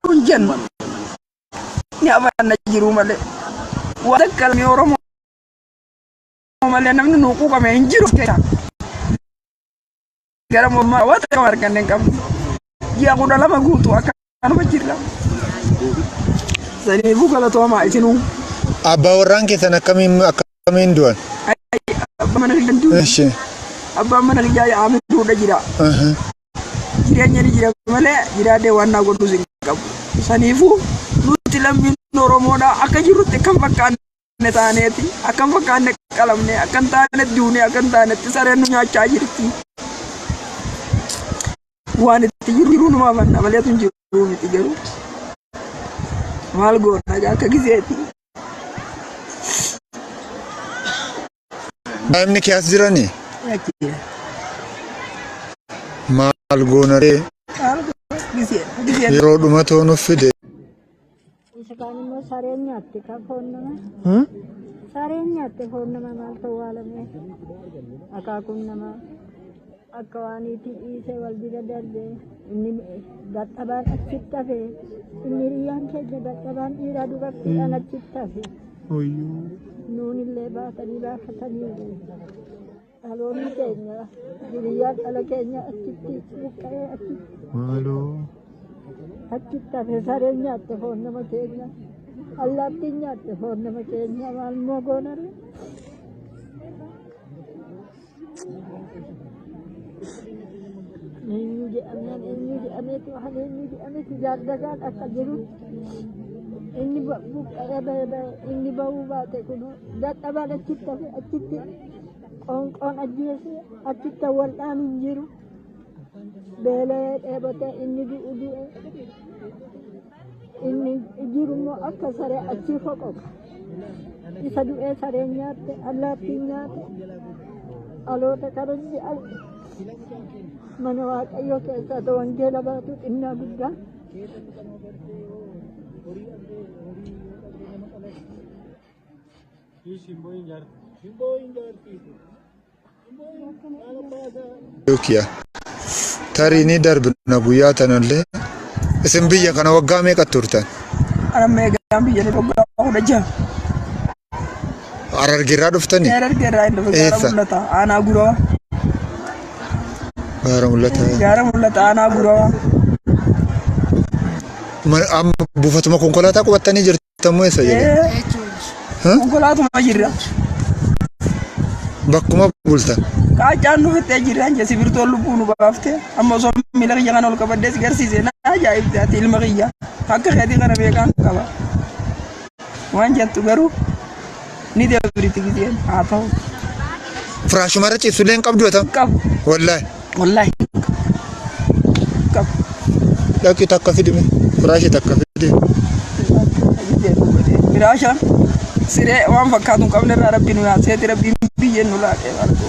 kun jennu ni amanna jiruu malee waan akka lammii Oromoo malee namni nuu quuqame hin jiru. gara mormaa waan takka waan arganne hin qabnu. Ji'a kudha lama guutuu akkanuma jirra. Saniifuu galatoomaa isinuu. Abbaa warraan keessan akkamiin akkamiin du'an? Abbaa mana kiyyaa du'e. Eshi. Abbaan mana kiyyaa yaa'ame duudha jira. Aha. Jireenya ni jira malee jiraadhee waan naa godhus hin qabu. Saniifuu nuti lammiin Oromoodha akka jirrutti kan fakkaanne fakkaanne taaneeti akka hin fakkaanne qalamne akka hin taane duune akka hin taanetti sareen nu nyaachaa jirti. Waan itti jiru jiruu numaa manna maleetu hin jiru miti garuu maal goona egaa akka gizeeti. Daa'imni kee as jirani? Maal goonaree? Yeroo dhuma too nuuf fide. Isa kaan immoo sareen nyaatte kan foon nama. Sareen nyaatte foon nama maal ta'uu haalamee? Akaakuun namaa. Akka waan itti dhiisee wal bira darbee inni dadhabaan achitti hafe inni hiriyyaan keenya dadhabaan dhiiraa dubartiidhaan achitti hafe Oyyoo. nuun illee baatanii baafatanii dhaloonni keenya hiriyyaan dhala keenya achitti buqqa'ee achitti Maaloo. achitti hafe sareen nyaatte foon nama keenya allaattiin nyaatte foon nama keenya maal immoo goonarre Eenyu jedhameen eenyu jedhameetu waan eenyu jedhameetu jaaldagaan akka jiru inni ba- buqqa'ee ba'e ba'e inni ba'uu baate kun dadhabaan achitti hafe achitti qoonqoon ajjeese achitti wal'aan hin jiru beela'ee dheebotee inni du'u du'e Inni jiru immoo akka saree achii foqoqa. Isa du'ee sareen nyaatte, allaattiin nyaatte, dhaloota kabajji arge. Mana Waaqayyoo keessaa ta'u wangeela baatu xinnaa guddaa. Shimboo hin jaarti. Shimboo hin jaarti. Yukiya. Tarii ni darbina guyyaa tanallee. Isin biyya kana waggaa meeqa turtan? Ana meeqaan biyya ni dhoggaa kudha jaha. Harargeerraa dhuftanii? Harargee irraa hin dhufe gaara Eessa? mul'ata aanaa guraa. Gaara mul'ata. Gaara mul'ata aanaa guraa. Ma- Amma buufatuma konkolaataa qubattanii jirtu. Tammoo eessa jedhe? Huh? Konkolaatuma jirra. Bakkuma bultan. Qaacaan nu fixee jirra anja sibirtoon lubbuu nu baafte amma osoo miila kiyya kana ol qabaddees garsiise na ajaa'ibte ati ilma kiyya akka keetii kana beekaan qaba. Waan jettu garuu Ni dabriti gizeen haa ta'u. Firaashuma irra ciibsu illee hin qabdu yoo ta'u. Qabu. Wallaahi. Wallaahi. Qabu. Dhaqi takka fidime. Firaashii takka fidime. Firaasha siree waan fakkaatu hin qabne irraa rabbi nu yaasee rabbi biyyeen nu laaqee barbaadu.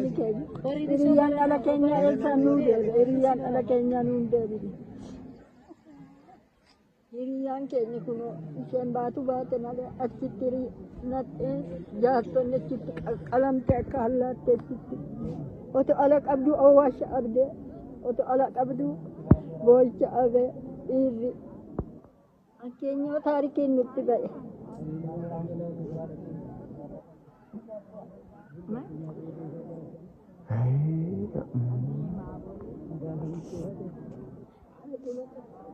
Hiriyyaan ala keenya eessa nuu deebi? Hiriyyaan ala keenya nuun deebi. Hiriyyaan keenya kun isheen baatu baate malee achitti nadheen jaartonni achitti qalamte akka hallaatte achitti. Oto ala qabdu owwaasha abdee. Oto ala qabdu boo'icha abee dhiirri. Fakkeenyaa taarikiin nutti ba'e.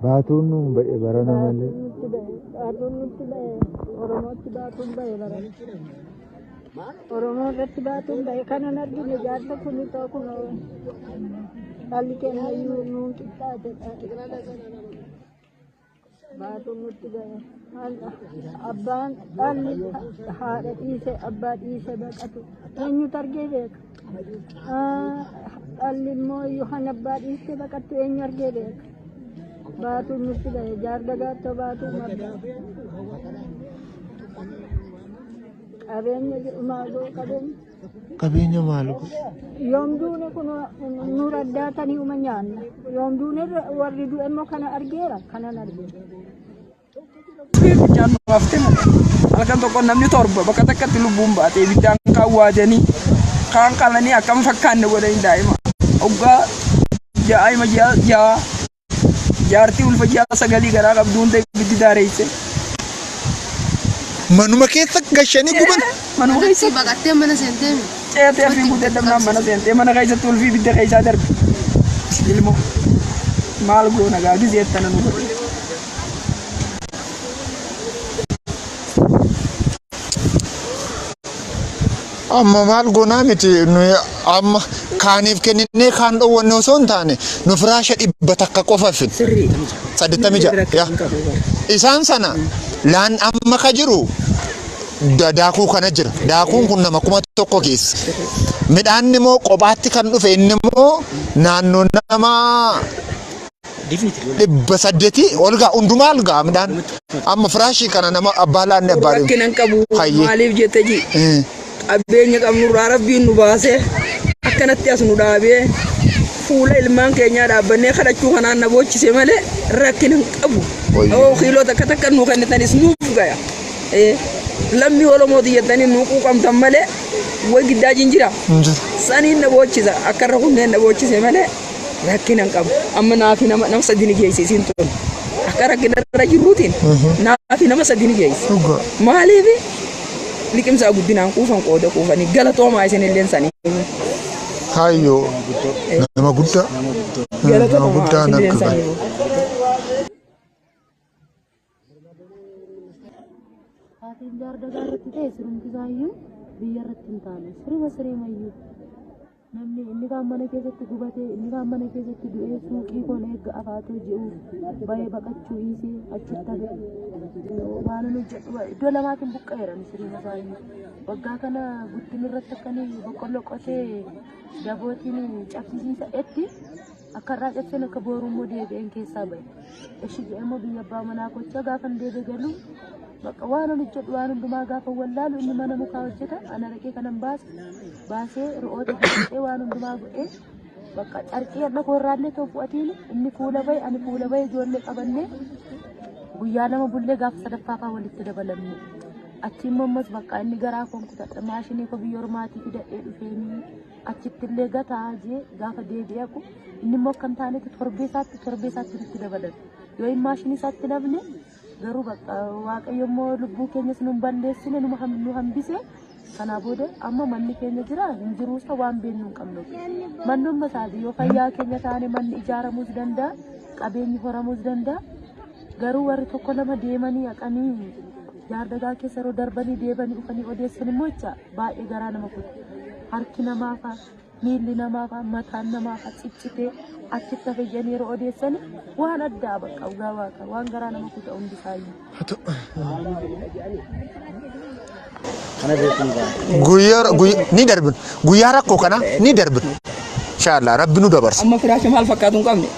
Baatuun nuun ba'e barana malee. Nutti ba'e. Baatuun nutti ba'e. Oromootti baatuun ba'e bara. Oromoo irratti baatuun ba'e. Kanan argine jaarsa kun itoo kun dhalli keenya iyyuu nuun qixxaate. Baatuun nutti ga'e. Abbaan dhalli haadha dhiise abbaa dhiise baqatu. Eenyutu argee beeka? Dhalli immoo yookaan abbaa dhiise baqattu eenyu argee beeka? Baatuun nutti ga'e. Jaarda gaattoo baatuun marga. Qabeenya jedhu maaloo qabeenya. Qabeenya maal godhe? Yoom duune kun nu raddaatanii uma nyaanna. Yoom duune warri du'e immoo kana argeera kanan arge. Ibiddaan nu haftee halkan tokko namni torba bakka takkatti lubbuun baate ibiddaan kaan waadanii kaan qalanii akkam fakkaanne godhanii daa'ima. Oggaa daa'ima ja'a Jaartii ulfa ji'a sagalii garaa qabdu hunda ibiddi daareesse. Manuma keessa gashanii guban. Manuma keessa Manatti baqattee mana seentee mi? ceetee fi guutee dabnaan mana seentee mana keessatti ulfi ibidda keessaa darbe. Ilmoo maal goona gaa gizee tana nu godhe. Amma maal goonaa miti nuyi amma kaaniif kenninee kaan dhoowwanne osoo hin taane nu firaasha dhibba takka qofa fin. Sirriidha mucaa. Saddeettamii Inni ja'a, bira yaa. kan qabu bara. Isaan sana laan amma ka jiru da- daakuu kana jira. Daakuun kun nama kuma tokko keessa. Midhaan immoo qophaatti kan dhufe inni immoo naannoo nama dhibba saddeetii ol ga'a hundumaa ol ga'a midhaan amma firaashii kana nama abbaa laanne abbaa deemu. rakkinan qabu Hayyee. maaliif jette ji Eh, qabeenya qabnurraa rabbiin nu baase akkanatti as nu dhaabee fuula ilmaan keenyaa dhaabbannee kadhachuu kanaan na boochise malee rakkinan qabu Wayyo. yoo kiiloo takka takka nu kennitanis nuuf gaya Eh, lammii oromooti jettanii nu quuqamtan malee way giddaa jinjira hin jiru. saniin na boochisa akka irra kunneen na boochise malee rakkina hin qabu. Amma naafi nama nama sadii ni geessi isiin tun. Akka rakkina irra jirruutiin naafi nama sadii ni geessi. Dhugaa. Maaliif liqimsaa guddinaan quufan qooda quufanii galatoomaa isin illeen sanii. Kaayyoo nama guddaa. Nama guddaa Galatoomaa natti isin illeen bahe. sanii. Haatiin jaardagaa irratti ta'e sirumti isaayyuu biyya irratti hin taane siruma sireemayyuu namni inni kaan mana keessatti gubatee inni kaan mana keessatti du'ee suuqii koon eegga afaatoo ji'uuf ba'ee baqachuu dhiisee achitti hafe waan hin hojjedhu iddoo lamaatiin buqqa'eera siruma isaayyuu waggaa kana guddin irratti akkanii boqqolloo qotee dabootiin cabsisiisa etti Akka har'aa cabseen akka booruu immoo deebi'een keessaa ba'e. Eshi jedhee immoo biyya abbaa manaa kochaa gaafan deebi'e galuu bakka waan ol hojjedhu waan hundumaa gaafa wallaalu inni mana mukaa hojjeta ana dhaqee kanan baase baasee re'oota hojjetee waan hundumaa godhee bakka carqii hadha koorraallee ta'u fu'atiin inni kuula ba'e ani kuula ba'e ijoollee qabannee guyyaa lama bullee gaafa sadaffaa fa'aa walitti dabalamne. Achi immoo ammas bakka inni garaa koo kutadha maashinii koo biyya ormaatii fidadhee dhufeenii. achitti illee gataa jee gaafa deebi'aku inni immoo akka hin taanetti torbee isaatti torbee isaatti itti dabalata yoo hin maashinii isaatti namne garuu bakka waaqayyo immoo lubbuu keenyas nu hin balleessine nu ham- nu hambise kanaa booda amma manni keenya jira hin jiruu isa waan beeknu hin qabnu manni umma isaati yoo fayyaa keenya taane manni ijaaramuus danda'a qabeenyi horamuus danda'a garuu warri tokko lama deemanii haqanii jaardagaa keessa yeroo darbanii deebanii dhufanii odeessan immoo jecha baay'ee garaa nama kutte harki namaa faa miilli namaa faa mataan namaa faa ciccitee achitti hafe jedhanii yeroo odeessani waan addaa bakka dhugaa waaqa waan garaa nama kuta hundi isaayyuu. Guyyaa guyyaa ni darbin. Guyyaa rakkoo kana ni darbin. Inshaallah rabbi nu dabarsa. Amma firaasha maal fakkaatu hin qabne.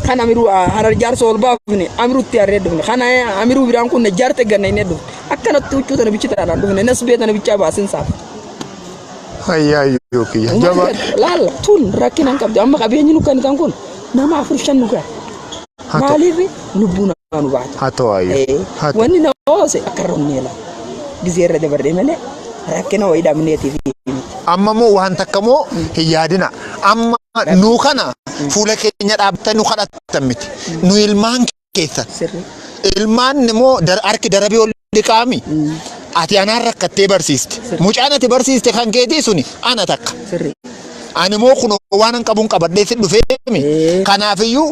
kan amiruu harar jaarsa ol baafne amirutti harree dhufne kan amiruu biraan kun jaarte ganna inni dhufne akkanatti huccuu tana bichitaadhaan dhufne nas bee tana bichaa baasin saaf. Fayyaa iyyuu kiyya. Jabaa. Laalla tun rakkina hin qabdu amma qabeenyi nu kennitan kun nama afur shan nu gaha. Maaliif lubbuun waan hubaatu. haa ta'u haayyu Eh, haa ta'u Wanni na oose akka irra humnee laa. Gizee irra dabarree malee rakkina wayii dhabneetiif miti. amma moo waan takka moo hin yaadina amma nuu kana fuula keenya dhaabbatan nu kadhatan miti nu ilmaan keessan Sirri. ilmaan immoo dar- harki darabii ol dhiqaami ati anaan rakkattee barsiiste mucaan ati barsiiste kan keetii suni ana takka Sirri. ani moo kun waan an qabuun qabadhee si dhufee mi Eh. kanaafiyyuu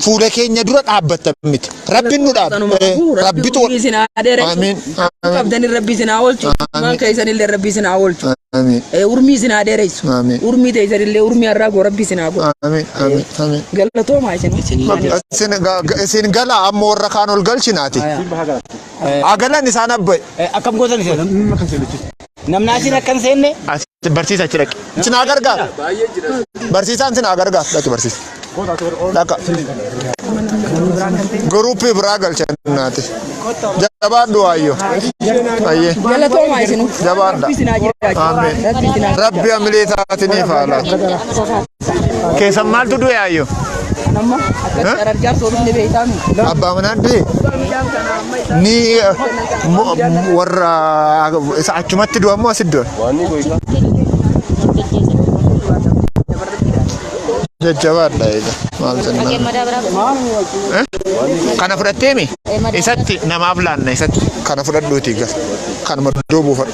fuula keenya dura dhaabbatta miti. Rabbiin nu dhaabba. Rabbi tu. Rabbi sinaa dheeressu. Amiin. Qabdanii rabbi sinaa oolchu. Maan keessan illee rabbi sinaa oolchu. Amiin. Urmii sinaa dheeressu. Amiin. Urmii teessan illee urmii har'aa goo rabbi sinaa goo. Amiin. Amiin. Amiin. Galatoomaa isin. Isin ga- ga- isin gala amma warra kaan ol galchinaati. Agalan isaan abbaye. Akkam gootan isin? Namni achiin akka hin seenne. Ati barsiisa achi dhaqi. Si naa gargaara. Barsiisaan si naa gargaara. Dhaqi barsiisa. Dhaqa. Guruuppii biraa galcha naati. Jabaadhu waayyoo. Ayyee. Galatoomaa isinuu. Jabaadha. Ameen. Rabbi hamilee isaatiniif haa laatu. Keessan maaltu du'e ayyo? Nama akka carargaa soorus ni beektaanu. Abbaa manaa du'e? Ni eh, mo- mo- warra isa achumatti du'a moo asitti du'a? Jajjabaadha eega. Maal jennaan? Eh? Kana fudhatteemi? Isatti namaaf laanna isatti. Kana fudhadhuutii gal. Kanuma iddoo buufadhu.